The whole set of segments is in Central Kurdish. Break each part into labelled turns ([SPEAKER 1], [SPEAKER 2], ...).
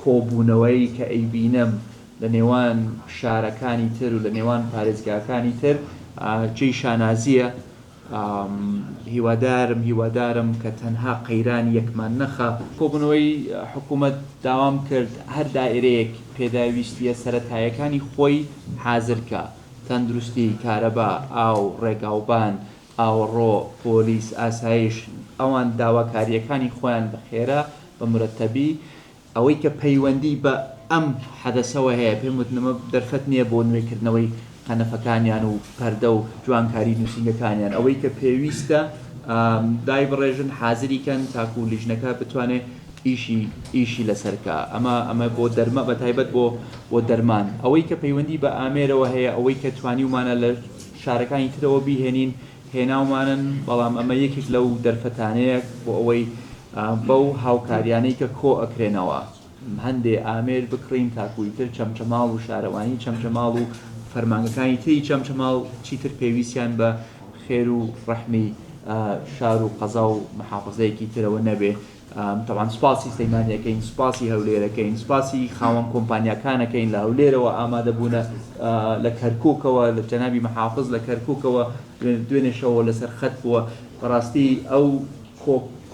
[SPEAKER 1] کۆبوونەوەی کە ئەیبینم لە نێوان شارەکانی تر و لە نێوان پارێزگاکانی تر جێی شانازییە، هیوادارم هیوادارم کە تەنها قەیران یەکمان نەخا. کۆبوونەوەی حکوومەت داوام کرد هەر دائیرەیەک پێداویستییە سەرەتاییەکانی خۆی حازر کا، تەندروستی، کارەبا، ئاو، ڕێگاوبان، ئاوەڕۆ، پۆلیس، ئاسایش، ئەوان داواکارییەکانی خۆیان بە خێرا، بە مورەتەبی، ئەوەی کە پەیوەندیی بە ئەم حەدەسەوە هەیە، پێم وتن ئەمە دەرفەت نییە بۆ نوێکردنەوەی قەنەفەکانیان و پەردە و جوانکاریی نووسینگەکانیان، ئەوەی کە پێویستە دایبڕێژن، حازری کەن تاکوو لیژنەکە بتوانێت ئیشی لەسەر بکا، ئەمە بۆ دەرمان، بە تایبەت بۆ دەرمان، ئەوەی کە پەیوەندیی بە ئامێرەوە هەیە، ئەوەی کە توانیومانە لە. شارەکانی ترەوە بیهێنین، هێناومانن، بەڵام ئەمە یەکێک لەو دەرفەتانەیە بۆ ئەوەی بەو هاوکاریانەی کە کۆ ئەکرێنەوە هەندێ ئامێر بکڕین تاکو ئیتر چەمچەماڵ و شارەوانی چەمچەماڵ و فەرمانگەکانی تری چەمچەماڵ چیتر پێویستیان بە خێر و ڕەحمی شار و قەزا و محافەزەیەکی ترەوە نەبێ. تەبعەن سوپاسی سلەیمانیەکەین، سوپاسی هەولێرەکەین، سوپاسی خاوەن کۆمپانیاکانەکەین لە هەولێرەوە ئامادە بوونە لە کەرکوکەوە لە جەنابی محافز لە کەرکوکەوە دوێنێ شەوە لەسەر خەت بووە بەڕاستی ئەو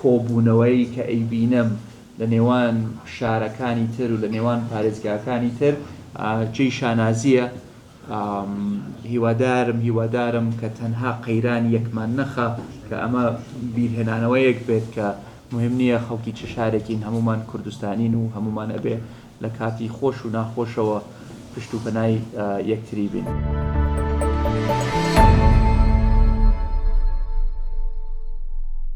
[SPEAKER 1] کۆبوونەوەی کە ئەیبینم لە نێوان شارەکانی تر و لە نێوان پارێزگاکانی تر جێی شانازیە. هیوادارم هیوادارم کە تەنها قەیران یەکمان نەخا کە ئەمە بیرهێنانەوەیەک بێت کە مهم نییە خەڵکی چ شارێکین هەموومان کوردستانین و هەموومان ئەبێ لە کاتی خۆش و ناخۆشەوە پشت و پەنای یەکتری بین.